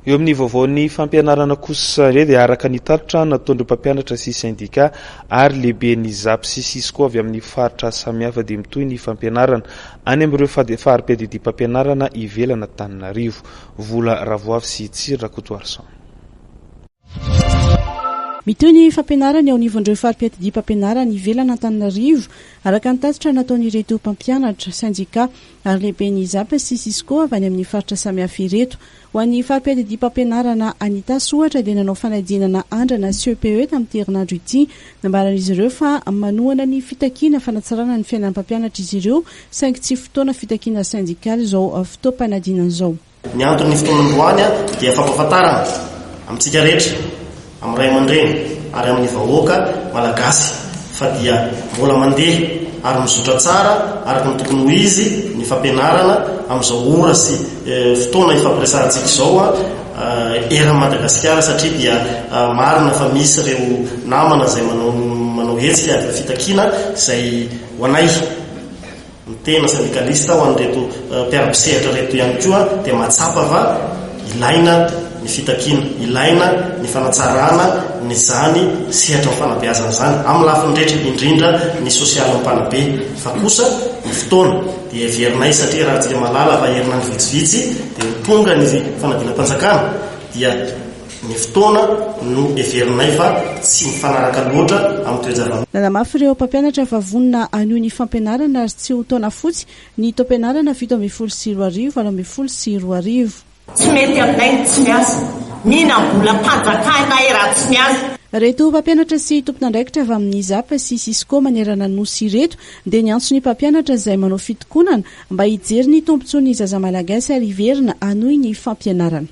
Eo amin'ny vaovaon'ny fampianarana kosa indray dia araka ny tatitra nataon'ireo mpampianatra sy sendika ary lehiben'ny Zap sy Cisco avy amin'ny faritra samihafa dia mitohy ny fampianarana any amin'ireo fari-piadidiam-pampianarana ivelan'Antananarivo. Vola Ravoavy sy Tsiry Rakotoarison. Mitohy ny fampianarana eo anivon'ireo fari-piadidiam-pampianarana ivelan'Antananarivo araka ny tatitra nataon'ireto mpampianatra, sendika ary lehiben'ny Hizab sy Cisco avy any amin'ny faritra samihafa ireto. Ho an'ny fari-piadidiam-pampianarana any Itasy, ohatra, dia nanao fanadinana andrana CEPE tamin'ity herinandro ity. Nambaran'izy ireo fa manohana ny fitakiana fanatsarana ny fiainan'ny mpampianatra izy ireo, saingy tsy fotoana fitakiana sendikaly izao fotoam-panadinana izao. Ny anton'ny fotoan'androany dia fampahafantarana amintsika rehetra, amin'ny ray aman-dreny ary amin'ny vahoaka Malagasy fa dia mbola mandeha ary mizotra tsara araka ny tokony ho izy ny fampianarana amin'izao ora sy fotoana ifampiresahantsika izao eran'i Madagasikara satria dia marina fa misy ireo namana izay manao hetsika fitakiana izay ho anay Ny tena sendikalista ho an'ireto mpiara-mpisehatra ireto ihany koa dia mahatsapa fa ilaina ny fitakiana, ilaina ny fanatsarana izany sehatry ny fanabeazana izany amin'ny lafiny rehetra, indrindra ny sosialin'ny mpanabe. Fa kosa ny fotoana dia heverinay satria raha haintsika malala fa herinandro vitsivitsy dia ho tonga ny fanadinam-panjakana dia. Ny fotoana no heverinay fa tsy mifanaraka loatra amin'ny toe-java-misy. Nanamafy ireo mpampianatra fa vonona hanohy ny fampianarana ary tsy ho taona fotsy ny taom-pianarana fito ambin'ny folo sy roa arivo, valo ambin'ny folo sy roa arivo. Tsy mety aminay ny tsy miasa. Mihinam-bolam-panjakana e raha tsy miasa. Ireto mpampianatra sy tompon'andraikitra avy amin'ny Zap sy Cisco manerana ny Nosy ireto dia niantso ny mpampianatra izay manao fitokonana mba hijery ny tombontsoan'ny zaza malagasy ary hiverina hanohy ny fampianarana.